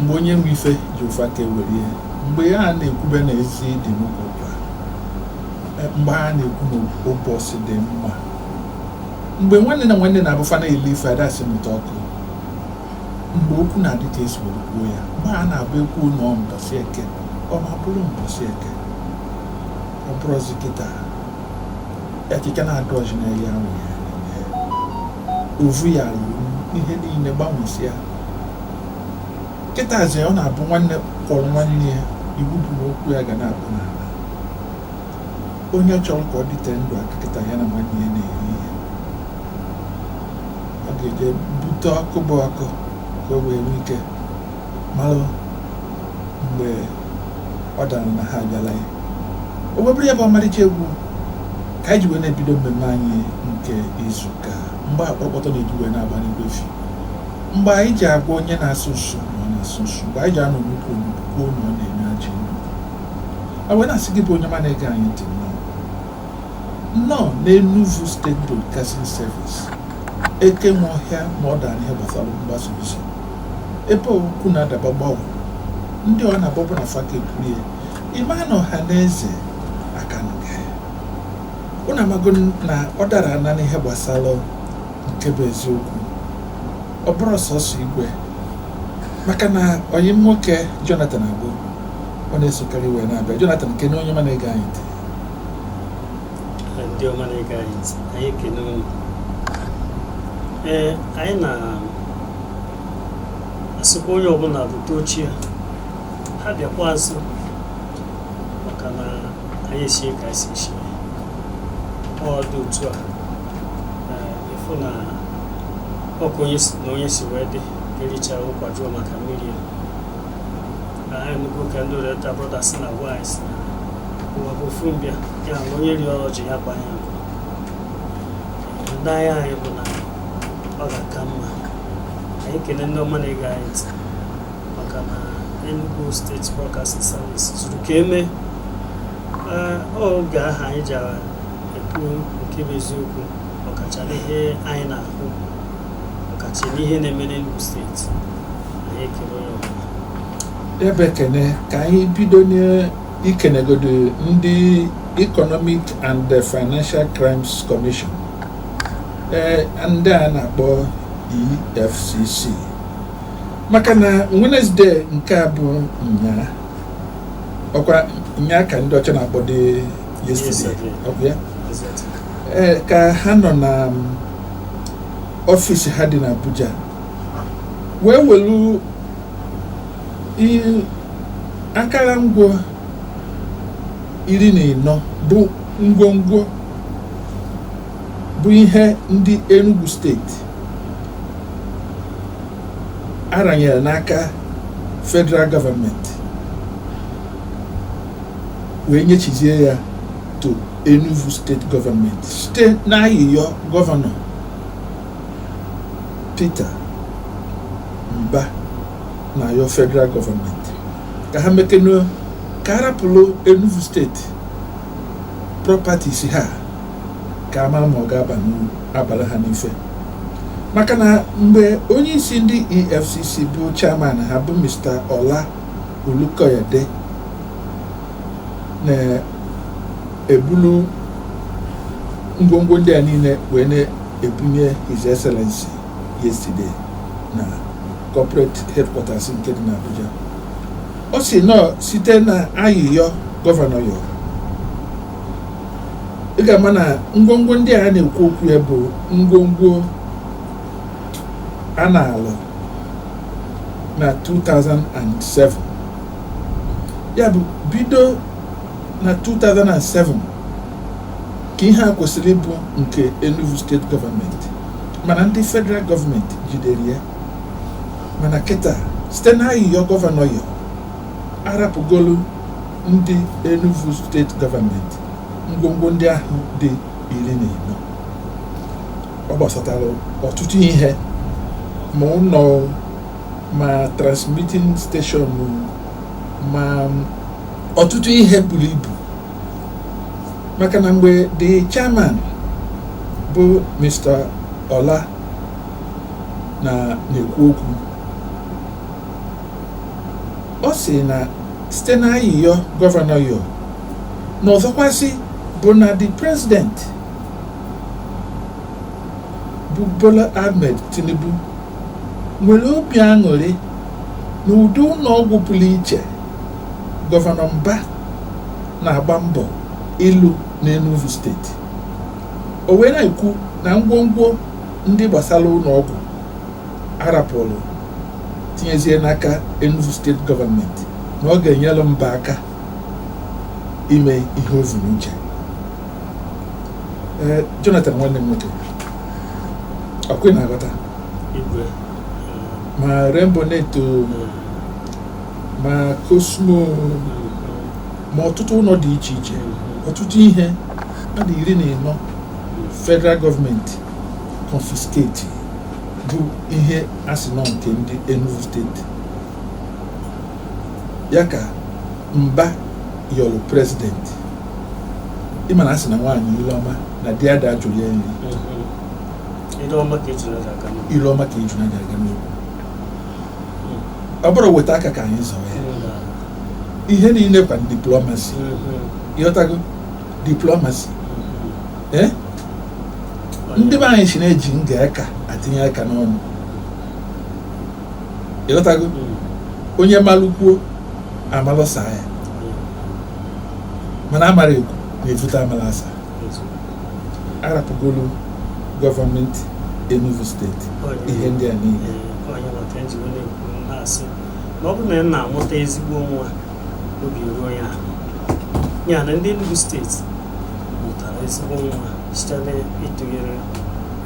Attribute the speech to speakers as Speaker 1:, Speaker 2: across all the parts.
Speaker 1: mgbe onye nwe ife ji ụfa ka ewere ihe mgbe ya na-ekwube na ezi dị n'ukwu ụkwa, mgbe a na-ekwu na ụbọchị dị mma mgbe nwanne na nwanne na-abụ fa na-eli ife adasị mụta ọkụ mgbe okwu na-adị ka esi were kwuo ya mgbe a na-abụ e kwuo na ọ mbọsị eke ọ ma bụrụ mbọsị eke ọ bụrụzi kịta ekike na-adụ ọjị n'elu ya nwere ovu ya ruru ihe niile gbanwesịa kịtazi ọ na-abụ nwanne kpọrọ nwanne ya iwu bụ na okwu ya ga na-abụ n'ala onye chọrọ ka ọ dịte ndụ aka kịta ya na nwanne ya na-eri ihe ọ ga-eje bute ọkụ bụ ọkụ ka o wee nwee ike malụ mgbe ọ dara na ha abịala ya o webụrụ ya bụ ọmarịcha egwu ka anyị ji wee na-ebido mmemme anyị nke izu ụka mgbe akpọrọkpọtọ na-eji wee na-agba n'igwe efi Mgbe anyị ji agwa onye na-asụ nsụ na ọ na-asụ nsụ, mgbe anyị ji anọ n'ukwu onugbu kwuo na ọ na-enu ajọ inu. A wee na-asị gị bụ onye ọma na-ege anyị ntị nnọọ. Nnọọ n'Enugu State Broadcasting Service, eke nwe ọhịa ma ọ dara n'ihe gbasara mgbasa ozi. Ebe okwu na-ada gbam gbam, ndị ọ na-agbabụ na fa aka ekwulie, ị ma na ọha na eze aka anụga ya. Unu amago na ọ dara ana n'ihe gbasara nke bụ eziokwu ọ bụrụ sọsọ igwe maka na enyi m nwoke Jonathan Agbo ọ na-esokwa anyị wee na-abịa Jonathan kene onye ọma na-ege anyị ntị ndị
Speaker 2: ọma na-ege anyị ntị anyị ekene unu ee anyị na-asịkwa onye ọbụla bute oche ya bịakwa azụ maka na anyị esie ka anyị si esie ọ dị otu a ị fụ na ọ ka onye si- na onye si wee dị e richa ụkwa jụọ maka mmiri ya anyị nụgo ka ndị Oriental Brothers na-agwa anyị si na ụwa bụ ofu mbịa ya na onye ri ọrụ ji ya gbanye nkụ ndị ahịa anyị bụ na ọ ga-aka mma anyị kene ndị ọma na-ege anyị ntị maka na Enugu State Broadcasting Service zuru ka e mee Ee, ọ oge ahụ anyị ji ekwu nke bụ eziokwu ọkacha
Speaker 1: n'ihe anyị na-ahụ ọkacha n'ihe na-eme n'Enugu steeti anyị ekele onye ọbụla ebe ekene ka anyị bido n'ikenegodu ndị Economic and the Financial Crimes Commission ee ndị a na-akpọ EFCC maka na Wednesday nke a bụ nnyaa ọkwa nyaa ka ndị ọcha na-akpọ the yesterday ọkwa ya ee ka ha nọ na ọfịs ha dị n'Abuja wee welu akara ngwa iri na ịnọ bụ ngwongwo bụ ihe ndị Enugu steeti a ranyere n'aka federal gọọmenti wee nyechizie ya to Enugu steeti gọọmenti site n'ayịyọ gọvanọ Peter Mba na-ayọ federal gọọmenti ka ha mekenụ ka a rapụlụ Enugu steeti properties ha ka a ma ma ọ ga-aba n'uru abara ha n'ife maka na mgbe onye isi ndị EFCC bụ chairman ha bụ Mr. Ola Olukoyede na-ebulu ngwongwo ndị a niile wee na-ebunye His Excellency yesterday na corporate headquarters nke dị n'Abuja ọ sị na ọ site na ayịyọ gọvanọ yọ ị ga-ama na ngwongwo ndị a na-ekwu okwu ya bụ ngwongwo a naalụ na 2007 ya bụ bido na 2007 ka ihe a kwesịrị ịbụ nke Enugu steeti gọọmenti mana ndị federal gọọmenti jidere ya mana kịta site na ayịyọ gọvanọ yọ a rapụgolu ndị Enugu steeti gọọmenti ngwongwo ndị ahụ dị iri na ịnọ ọ gbasatara ọtụtụ ihe ma ụlọ ma transmitting station ma ọtụtụ ihe buru ibu maka na mgbe the chairman bụ Mr. Ola na-ekwu okwu ọ sị na site na ayịyọ gọvanọ yọ na ọzọkwasị bụ na the president bụ Bola Ahmed Tinubu nwere obi aṅụrị na ụdị ụlọ ọgwụ pụrụ iche gọvanọ Mba na-agba mbọ ịlụ n'Enugu steeti o wee na-ekwu na ngwongwo ndị gbasara ụlọ ọgwụ a rapụrụ tinyezie n'aka Enugu steeti gọọmenti na ọ ga-enyere mba aka ime ihe o zuru uche ee Jonathan nwanne m nwoke ọkwa ị na-aghọta igwe ma Rainbownet o ma Cosmo ma ọtụtụ ụlọ dị iche iche ọtụtụ ihe ọma dị iri na ịnọ federal gọọmenti confiscate bụ ihe a sị na ọ nke ndị Enugu steeti ya ka Mba yọrọ prezidenti ị ma na a sị na nwaanyị ile ọma na di ada ajụrụ ya nri
Speaker 2: Ile ọma ka ejuna ji aga
Speaker 1: n'ogwu ọ bụrọ weta aka ka anyị zọọ ya ihe niile kwa diplomacy ị ghọtago diplomacy eh? ndị be anyị sị na e ji nga aka atinye aka n'ọnụ ị ghọtago hmm. onye malụ kwuo a malụ saa ya mana amara ekwu na-evute amala asa a rapụgolu gọọmenti Enugu steeti ihe ndị a niile
Speaker 2: ọ bụrụ na nna amụta ezigbo nwa obi ruo ya ana ndị Enugu steeti mụtara ezigbo nwa site n'ịtụnyere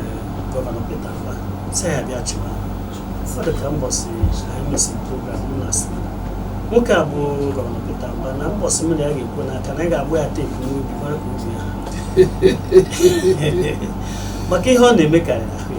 Speaker 2: eh, gọvanọ Peter Mba sị ya bịa chịwa fa dị ka mbọsị anyị mesịrị program m na-asị nwoke a bụ gọvanọ Peter Mba na mbọsị m na ya ga-ekwe n'aka na ya ga-agba ya teepu n'obi mara ka obi ya maka ihe ọ na-eme karịrị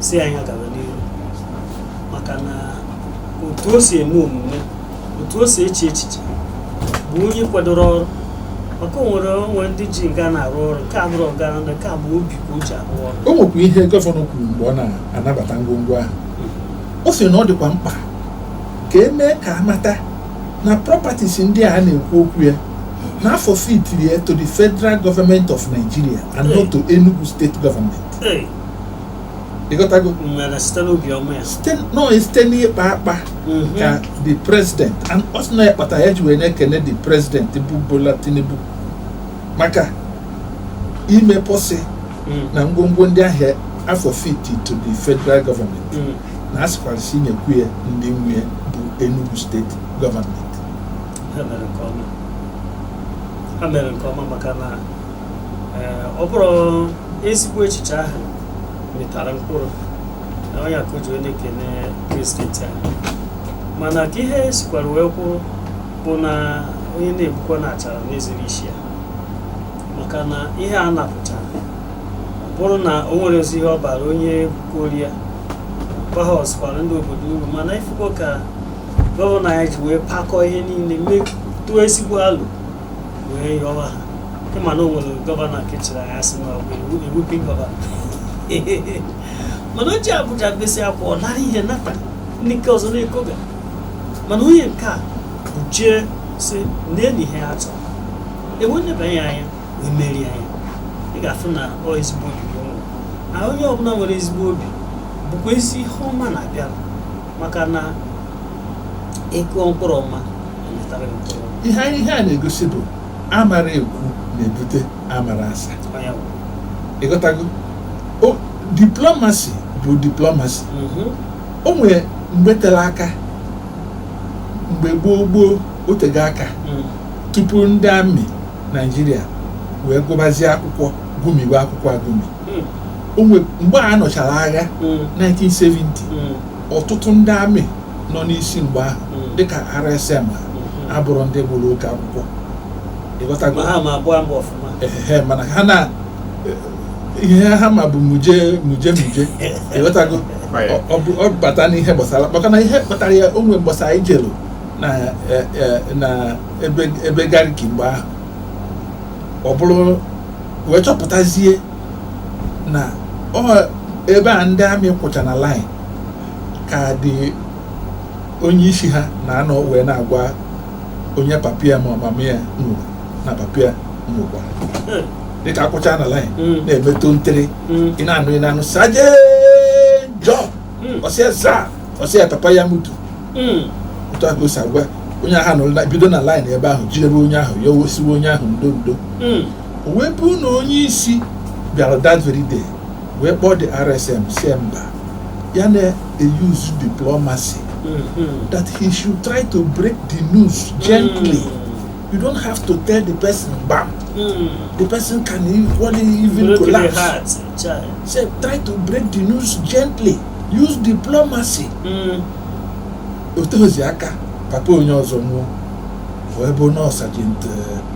Speaker 2: sị anyị gaba n'ihu maka na otu o si eme omume otu o si eche echiche bụ onye kwadoro ọrụ maka o nwere ndị ji nga na-arụ ọrụ nke a bụrụ ọgara ndị nke a bụ obi ka o ji arụ ọrụ o nwekwa ihe gọvanọ
Speaker 1: kwuru mgbe ọ na-anabata ngwongwo ahụ ọ sịrị na ọ dịkwa mkpa ka e mee ka a mata na properties ndị a na-ekwu okwu ya na a forfeitiri ya to the federal government of Nigeria and not to Enugu state government Ee, ị ghọtago Mmere site n'obi ọma
Speaker 2: ya. site nọ site
Speaker 1: n'ịkpa akpa Mhm. ka the president and ọ sị na ya kpata ya ji wee na-ekene the president bụ Bola Tinubu maka ime pọsị Mm. na ngwongwo ndị ahụ a forfeit to the federal government Mm. na a sịkwa sị nyekwu ya ndị nwe ya bụ Enugu steeti gọọmenti Ha mere nke ọma.
Speaker 2: Ha mere nke ọma maka na ọ bụrụ ezigbo echiche ahụ mịtara mkpụrụ na ọ ya ka o ji wee na-ekene prezidenti ahụ mana ka ihe sikwara wee kwụrụ bụ na onye na-egbukwa na achara na-ezere isi ya maka na ihe a napụtara ọ bụrụ na o nwerọzi ihe ọ bara onye bukori ya bahasịkwara ndị obodo uru mana ị fụgo ka gọvanọ anyị ji wee pakọọ ihe niile mee tụọ ezigbo alo wee yọwa ha ị ma na o nwere gọvanọ nke chịrị anyị a sị na ọ bụ weeping gọvanọ mana o jee Abuja besịa akwa ọ nara ihe nata ndị nke ọzọ na-ekoga mana onye nke a bụ jee sị na nee ihe a chọrọ e wee nebanye anya wee meere anyị ị ga-afụ na ọ ezigbo obi gị nwere na onye ọbụla nwere ezigbo obi bụkwazi ihe ọma na-abịara maka na ị kụọ mkpụrụ ọma ihe ihe a
Speaker 1: na-egosi bụ amara ekwu na-ebute amara asa ị ghọtago diplomasi bụ diplomasi mhm. o nwere mgbe tere aka mgbe gboo gboo otego aka mhm. tupu ndị amị naijiria wee gụbazie akwụkwọ gụmiwe akwụkwọ agụmi mhm. mgbe a nụchara agha 1970 ọtụtụ ndị amị nọ n'isi mgbe ahụ Mm. dịka RSM ha Mhm. abụrọ ndị gụrụ oke akwụkwọ ị ghọtago ma ha ma abụọ mbụ ọfụma ehe mana ha na ihe ha ma bụ muje muje muje ị ghọtago Right. Ọ- ọ bụ- ọ bata n'ihe gbasara maka na ihe kpatara ya o nwee mbọsị anyị jelu na eh, eh, na ebe ebe gariki mgbe ahụ ọ bụrụ wee chọpụtazie na ọ ebe a ndị amị kwụcha na line ka dị onye isi ha na-anọ wee na-agwa onye papa ya ma ọ mama ya nwụrụ na papa ya nwụkwa dịka a kwụcha na laịn Mm. na-emetụ ntịrị Mm. ị na-anụ ị na-anụ Sergeant John Mm. ọ sịa sir ọ sịa papa ya mutu Mm. otu a ka o si agwa onye ahụ nụrụ na- bido na laịn ebe ahụ jidebe onye ahụ ya o wee sịwe onye ahụ ndo ndo Mm. o wee bụrụ na onye isi bịara that very day wee kpọọ the rsm sị mba ya na-use diplomacy mm-hmm. that he should try to break the news gently mm. you don't have to tell the person bam mm. the person can equally even Broken collapse heart, say try to break the news gently use diplomacy mm. o tezie aka papa onye ọzọ nwụọ wee bụ na ọ Sergeant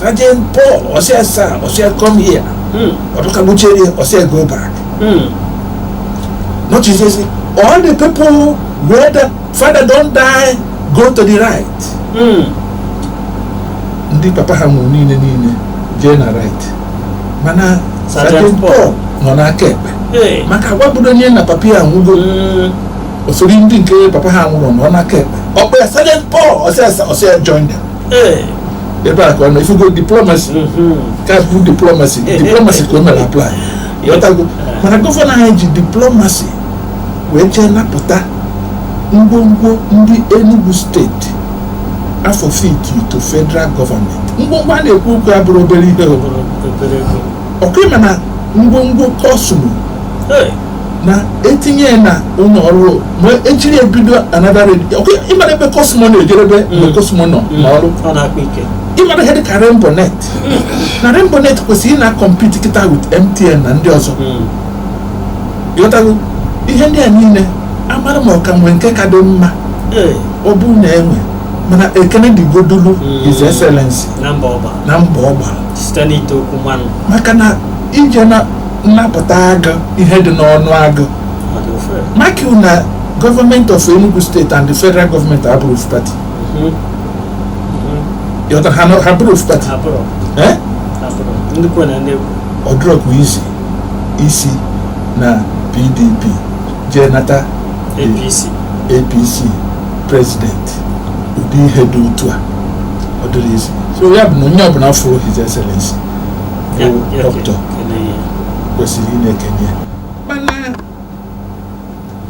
Speaker 1: Sergeant Paul, ọ sị sir, ọ sị ya, come here. Hmm. Ọ dị ka bucheri, ọ sị ya, go back. Hmm. Nọchaa sị, all the people wey their father don die, go to the right. Hmm. Ndị papa ha nwụrụ niile niile jee na right. Mana Sergeant Paul nọ n'aka ekpe. Maka a gwabụrọ ya na papa ya nwụgo. Hmm. O sori ndị nke papa ha anwụrọ nọ n'aka ekpe. Ọ kpọọ ya Sergeant Paul ọ sị ya ọ sị ya join them. Ee. ebe a ka ọ nọ ị fụgo diplomasi Mhm. ka bụ diplomasi diplomasi ka o mere apply ị ghọtago mana gọvanọ anyị ji diplomasi wee jee napụta ngwongwo ndị Enugu steeti a forfeit to federal gọọmenti ngwongwo a na-ekwu okwu ya abụrọ obere ihe o. Obere ego. ọ kwa ị ma na ngwongwo kọsmọ Ee. na e tinye ya na ụlọ ọrụ ma e jiri ya bido anada redio ị mara ebe kọsmọ na-ejerube mgbe kọsmọ nọ n'ọrụ ọ na-akpa ike ị mara ihe dịka rainbow net na rainbow net kwesịrị ịna-akọmpiti kịta wit mtn na ndị ọzọ ị ghọtago ihe ndị a niile amarọ m ma ọ ka nwee nke ka dị mma Ee, ọ bụ na e nwee mana ekene dịgodulu Mm. his excellency na mbọ ọ gba na mbọ ọ gbara site n'ite okwu mmanụ maka na ije na nnapụta agụ ihe dị n'ọnụ agụ maka na gọọmenti of Enugu steeti and the federal gọọmenti abụrọ ofu pati ị ghọtara ha na- ha abụrọ ofu pati Eh? ọ dịrọkwa izi ịsị na pdp jee nata apc prezidenti ụdị ihe dị otu a ọ dịrọ izi so ya bụ na onye ọbụla fụrụ his excellency bụ dọkịta kwesịrị ịna-ekene ya mana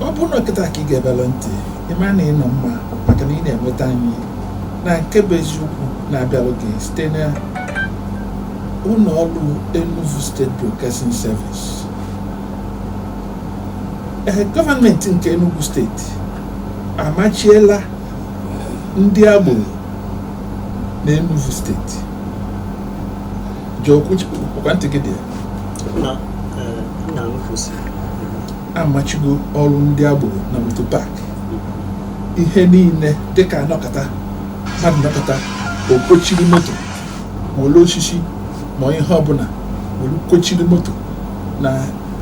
Speaker 1: ọ bụrụ na kịta ka i gebelu ntị ị ma na ị nọ mma maka na ị na-enweta anyị na nke bụ eziokwu na-abịalụ gị site na ụlọ ọrụ Enugu State Broadcasting Service ee gọọmenti nke Enugu steeti amachiela ndị agboro na Enugu steeti amachigo ọrụ ndị agboro na moto pak ihe niile dịka a nọkata mmadụ nọkata o kochiri moto ma wolu osisi ma ihe ọbụla were kochiri moto na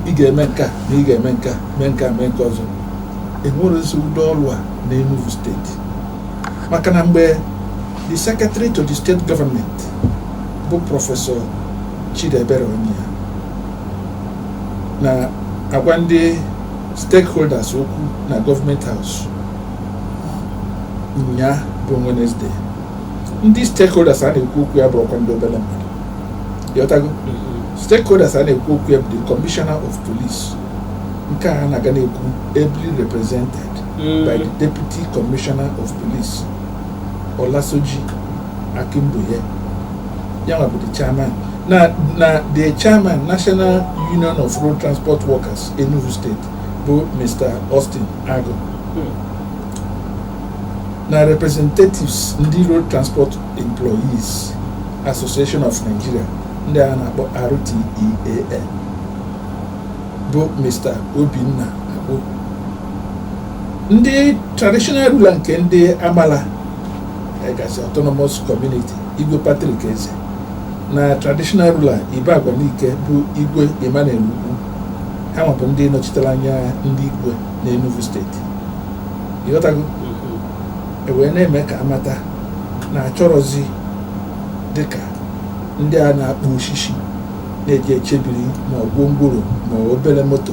Speaker 1: ị ga-eme nke a na ị ga-eme nke a mee nke a mee nke ọzọ enwerọzị ụdị ọrụ a na Enugu steeti maka na mgbe The Secretary to the State Government bụ Prọfesọ Chidiebere Onyia na-agwa ndị stakeholders okwu na Government House nya bụ Wednesday ndị stakeholders a na-ekwu okwu ya abụrọkwa ndị obere mmadụ ị ghọtago mm-hmm. stakeholders a na-ekwu okwu ya bụ the commissioner of police nke a na-aga na-ekwu ably represented mm. by the deputy commissioner of police Olasoji Akinbayo ya bụ the chairman na na the chairman National Union of Road Transport Workers Enugu State bụ Mr. Austin Agu hmm. na representatives ndị Road Transport Employees Association of Nigeria ndị a na-akpọ RTEAN bụ Mr. Obinna Agbo ndị traditional ruler nke ndị Amalla Egazi autonomous community igwe Patrick Eze na traditional ruler Ibagwa Nike bụ igwe Emmanuel Ugwu ha nwa bụ ndị nọchitere anya ndị igwe na Enugu steeti ị ghọtago mm-hmm. e wee na-eme ka a mata na achọrọzi dịka ndị a na-akpụ osisi na-eji echebiri ma ogwongworo ma obere moto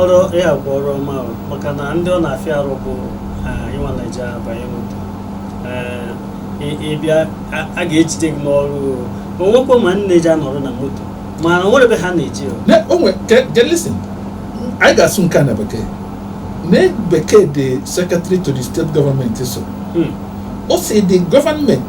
Speaker 2: ọrụ ya bụ ọrụ ọma maka na ndị ọ na-afịa arụ bụ ị nwa na-eji abanye moto ị bịa a ga-ejide gị n'ọrụ o nwekwa ma na-eji anọrọ na moto mana o nwere ebe ha na-eje
Speaker 1: listen anyị ga-asụ nke a na bekee na bekee the secretary to the state government so hmm. o si the government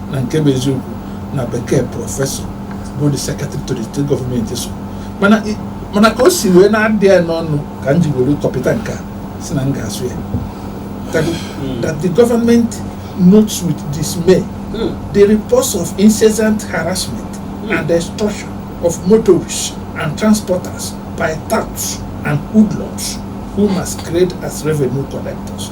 Speaker 1: na nke bụ eziokwu na bekee prọfesọ bụ the secretary to the state government so mana ka o si wee na-adị ya n'ọnụ ka m ji were kọpịta nke a si na m ga-asụ ya hmm. that the government notes with dismay hmm. the reports of incessant harassment hmm. and extortion of motorists and transporters by touts and hoodlums who masquerade as revenue collectors.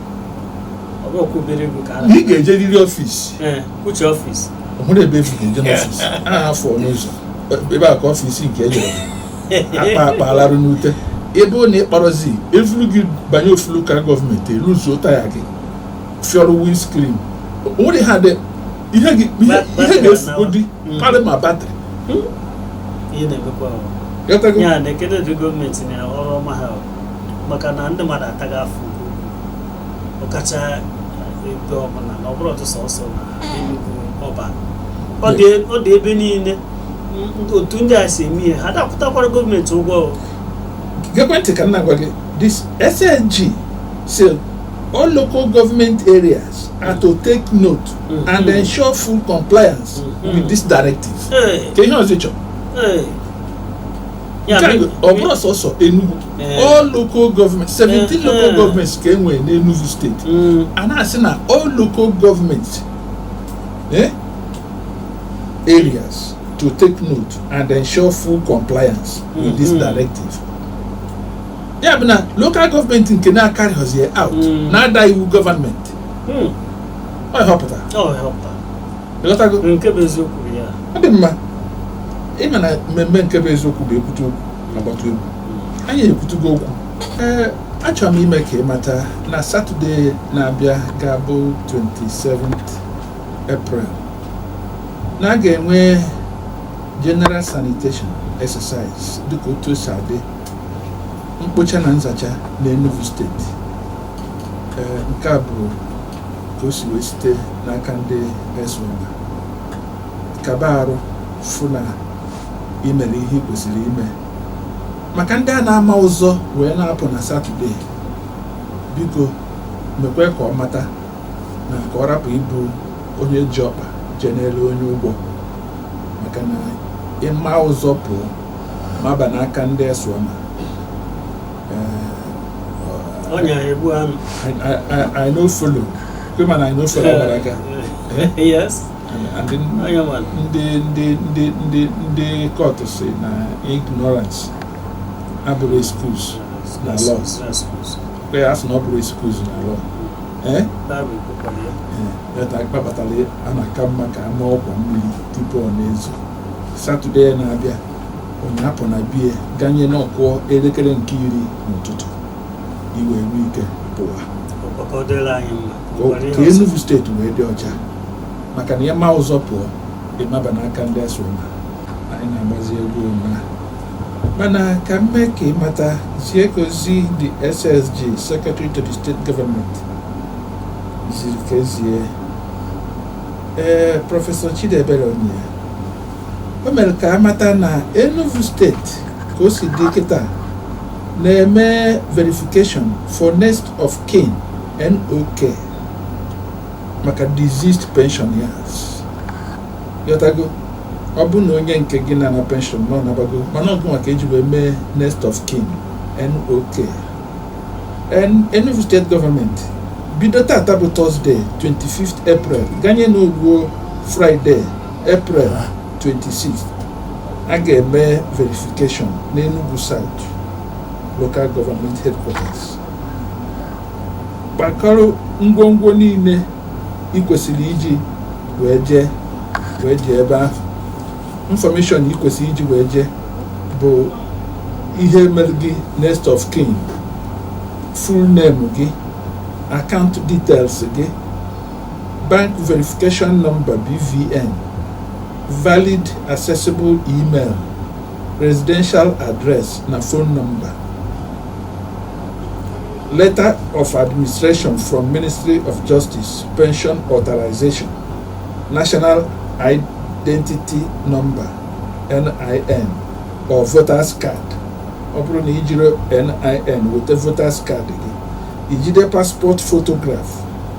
Speaker 2: ị ga-ejeriri ọfịs ọhụrụ ebe e vu gị
Speaker 1: eje n'ọfịs a afọ n'ụzọ ebe a ka ọfịs nke e jere akpa akpa alarụ n'ute ebe ọ na-ekpọrọzi e vuru gị banye ofulu ka gọọmenti eluzuo taya gị fiọrụ windscreen o nwere ha dị ihe ga-efugo di hmm. karị ma batrị
Speaker 2: hmm? maka na ndị mmadụ ataghị afọ ugwu ọkacha ebe ọbụla na ọ bụrọ ọtụ sọsọ na Enugu ọba ọ dị ọ dị ebe niile m- otu ndị a si eme ihe ha dapụtakwara gọọmenti ụgwọ o. geekwa
Speaker 1: ntị ka m na-agwa gị this SSG say all local government areas are to take note Mhm. and ensure full compliance Mhm. with this directive Ee, ka ihe ọzọ ị chọrọ ee, Ya Nke a bụ- ọ bụrọ sọsọ Enugu Eh. all local government 17 Eh, local eh. governments ka e nwere n'Enugu steeti Mm, a na-asị na all local government eh, areas to take note and ensure full compliance with this Mhm. directive ya bụ na local government nke na-acarryghọzi ya out Mm. na-ada iwu gọọmenti mm. ọ ihe ọ pụtara Ọ ihe ọ pụtara. ịghọtago nke
Speaker 2: bụ eziokwu bụ ya ọ dị
Speaker 1: mma ịma na mmemme nke bụ eziokwu bụ ekwute okwu agbata egwu anyị ekwutugo okwu ee achọrọ m ime ka ị mata na satọde na-abịa ga-abụ 27th April na a ga-enwe general sanitation exercise dịka otu o si adị mkpocha na nzacha n'Enugu steeti ee nke a bụ ka o si wee site n'aka ndị ESWAMA kaba arụ fụ na imere ihe ị kwesịrị ime maka ndị a na-ama ụzọ wee na-apụ na satọde biko mekwe ka ọ mata na ka ọ rapụ ịbụ onye ji ọkpa jee n'elu onye ụgwọ maka na ịma ụzọ pụọ maba n'aka ndị ESWAMA ọnya egbu anụ I no follow women I no follow gbara aga yes ndị ndị ndị ndị ndị kọtụ sị na ignorance abụrọ excuse na law kwe ya sị na ọ bụrọ excuse na law ee ya kpatara a na-aka mma ka ama ọkwa mmiri tupu ọ na-ezo satọde na-abịa onye apụna bie ganye na ọ kụọ elekere nke iri n'ụtụtụ i wee nwee ike pụwa ka Enugu steeti wee dị ọcha maka na ya ma ụzọ pụọ ịmaba n'aka ndị ESWAMA anyị na-agbazi egwu ụna mana ka m mee ka ịmata zie ka ozi the SSG secretary to the state government ziri ka ezie ee prọfesọ Chidiebere Onyia o mere ka a mata na Enugu steeti ka o si dị kịta na-eme verification for next of kin NOK maka deceased pensioners ị ghọtago ọ bụ na onye nke gị na-ana pension na ọ nabago mana ọ gị nwa ka e ji wee mee next of kin NOK Enugu steeti gọọmenti bido tata bụ tọzdee 25 April ganye na o ruo Fraịde April 26 a ga-eme verification n'Enugu South local government headquarters kpakọrọ ngwongwo niile ị kwesịrị iji wee jee wee jee ebe ahụ information ị kwesịrị iji wee jee bụ ihe mere gị next of kin full name gị account details gị Bank Verification Number BVN, Valid Accessible Email, Residential Address na Phone Number. Letter of Administration from Ministry of Justice, Pension Authorization, National Identity Number, NIN, or Voters Card. ọ bụrụ na ijiri NIN weta voters card gị ijide passport photograph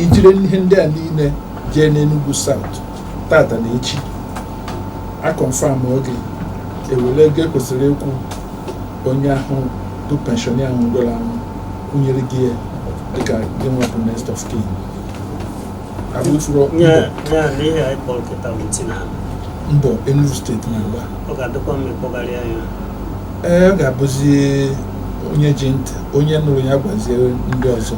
Speaker 1: i jiri ihe ndị a niile jee n'Enugu South tata na echi a confirmuo gị e were ego e kwesịrị ịkwụ onye ahụ bụ pensioner ahụ nwụrụ anwụ kwụnyere gị ya dịka gị nwa bụ next of kin mbọ Enugu steeti
Speaker 2: na-agba ee ọ
Speaker 1: ga-abụzi onye ji ntị onye nụrụ ya gwazie ndị ọzọ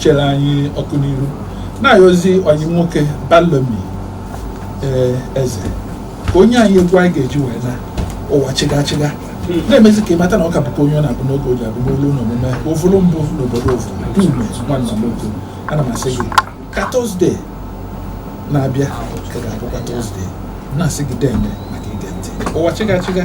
Speaker 1: chere anyị ọkụ n'ihu na-ayọzi ọyị nwoke balomi ee eze ka o nye anyị egwu anyị ga-eji wee naa ụwa chịgachịga na-emezi ka ị mata na ọ ka bụkwa onye ọ na-abụ n'oge o ji abụ n'olu na omume ovulu mbụ n'obodo ovu dume nwanna m otu ana m asị gị ka tọzdee na-abịa ka ga-abụkwa tọzdee na-asị gị deeme maka ige ntị ụwa chịgachịga